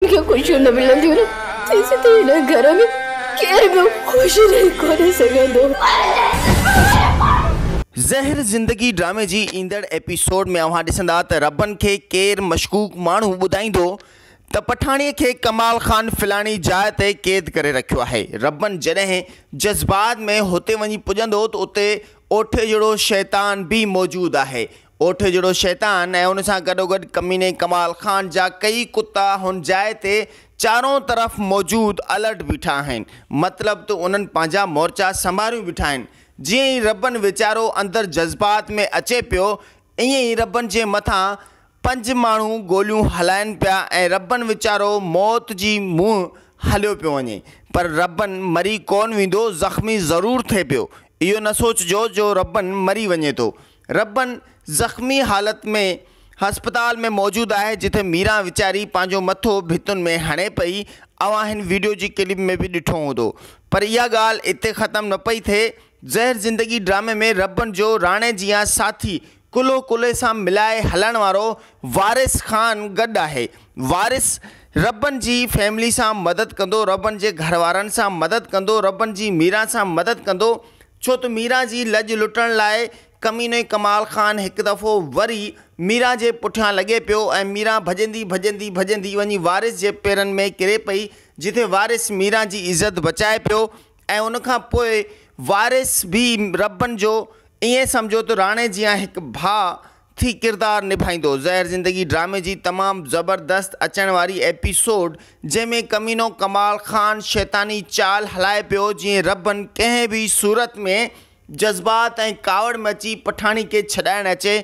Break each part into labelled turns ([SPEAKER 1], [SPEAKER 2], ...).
[SPEAKER 1] ان کي خوشيون نه ملنديون نه تيسيتائين هن گهر ۾ ڪير به خوش رهي ڪونه سگهندو.
[SPEAKER 2] زهر زندگي ڊرامي جي ايندڙ ايپيسوڊ ۾ اوهان ڏسندا ته ربن کي ڪير مشڪوڪ ماڻهو ٻڌائيندو ته پٺاڻي کي ڪمال خان فلاڻي جاء تي قيد ڪري رکيو آهي. ربن جڏهن جذبات ۾ هتي وڃي پڄندو ته اتي اوٺي جهڙو شيطان به موجود آهي. اوٺ جهڙو شيطان ۽ ان سان گڏوگڏ ڪميني ڪمال خان جا ڪيئي ڪتا هن جاء تي چارون طرف موجود الرٽ بيٺا آهن. مطلب ته انهن پنهنجا مورچا سنڀاريون بيٺا آهن. جيئن ئي ربن ويچارو اندر جذبات ۾ اچي پيو، ائين ئي ربن جي مٿان پنج ماڻهو گوليون هلائن پيا ۽ ربن ويچارو موت جي منهن هليو پيو وڃي. پر ربن مري ڪونه ويندو، زخمي ضرور ٿئي پيو. اهو نه سوچجو جو ربن مري وڃي ٿو. ربن زخمي حالت ۾ هسپتال ۾ موجود آهي جتي ميران ويچاري پنهنجو مٿو ڀتن ۾ هڻي پئي اوهان هن ويڊيو جي ڪلپ ۾ به ڏٺو هوندو پر اها ڳالهه اتي ختم نه پئي ٿئي زهر زندگي ڊرامي ۾ ربن جو راڻي جيان ساٿي ڪلهو ڪلهي سان ملائي هلڻ وارو وارث خان گڏ آهي وارث ربن جي فيملي سان مدد ڪندو ربن جي گهر وارن سان مدد ڪندو ربن جي ميران سان مدد ڪندو ڇو ته ميران جي لڄ لٽڻ لاء ڪميني ڪمال خان هڪ دفعو وري ميران جي پٺيان لڳي پيو ۽ ميران ڀڄندي ڀڄندي ڀڄندي وڃي وارث جي پيرن ۾ ڪري پئي جتي وارث ميران جي عزت بچائي پيو ۽ ان کان پوء وارث به ربن جو ائين سمجهو ته راڻي جيان هڪ ڀاء ٿي ڪردار نڀائيندو زهر زندگي ڊرامي جي تمام زبردست اچڻ واري ايپيسوڊ جنهن ۾ ڪمينو ڪمال خان شيطاني چال هلائي پيو جيئن ربن ڪنهن به صورت ۾ جذبات ۽ ڪاوڙ ۾ اچي پٺاڻي کي ڇڏائڻ اچي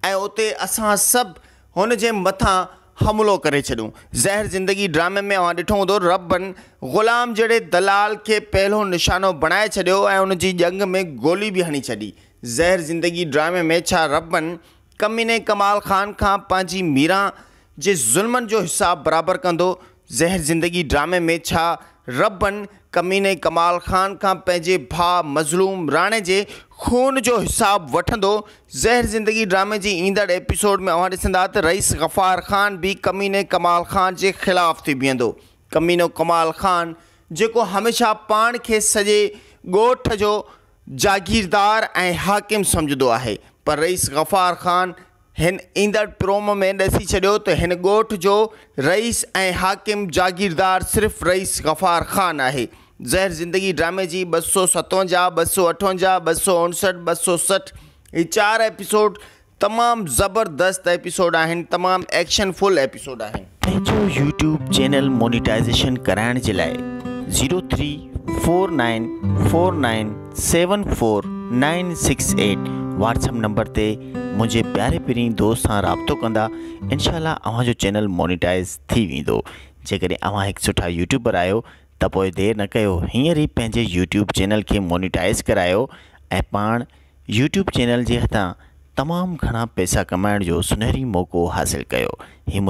[SPEAKER 2] ۽ اتي اسان سڀ هن جي مٿان حملو ڪري ڇڏيون زهر زندگي ڊرامي ۾ اوهان ڏٺو هوندو ربن غلام جهڙي دلال کي پهلو نشانو بڻائي ڇڏيو ۽ ان جي ڄنگهه ۾ گولي به هڻي ڇڏي زهر زندگي ڊرامي ۾ ڇا ربن ڪميني ڪمال خان کان پنهنجي ميران جي ظلمن جو حساب برابر ڪندو؟ زهر زندگي ڊرامي ۾ ڇا ربن ڪميني ڪمال خان کان پنهنجي ڀاء مظلوم راڻي جي خون جو حساب وٺندو؟ زهر زندگي ڊرامي جي ايندڙ ايپيسوڊ ۾ اوهان ڏسندا ته رئيس غفار خان به ڪميني ڪمال خان جي خلاف ٿي بيهندو. ڪمينو ڪمال خان جيڪو هميشه پاڻ کي سڄي ڳوٺ جو جاگيردار ۽ حاڪم سمجهندو آهي پر رئيس غفار خان هن ايندڙ پروم ۾ ڏسي ڇڏيو ته هن ڳوٺ جو رئيس ۽ حاڪم جاگيردار صرف رئيس غفار خان آهي زهر زندگي ڊرامي جي ٻه سؤ ستونجاهه، ٻه سؤ اٺونجاهه، ٻه سؤ اڻسٺ، ٻه سؤ سٺ هي چار ايپيسوڊ تمام زبردست ايپيسوڊ آهن تمام ايڪشن فل ايپيسوڊ آهن. پنهنجو يوٽيوب چينل مونيٽائيزيشن ڪرائڻ جي لاء zero three four nine four nine seven four nine six eight WhatsApp number تي منهنجي پياري پرين دوست سان رابطو ڪندا انشاء الله اوهان جو چينل مونيٽائيز ٿي ويندو جيڪڏهن اوهان هڪ سٺا يوٽيوبر آهيو ته پوء دير نه ڪيو هينئر ئي پنهنجي يوٽيوب چينل کي مونيٽائيز ڪرايو ۽ پاڻ يوٽيوب چينل جي هٿان تمام گهڻا پئسا ڪمائڻ جو سنهري موقعو حاصل ڪيو هي منهنجي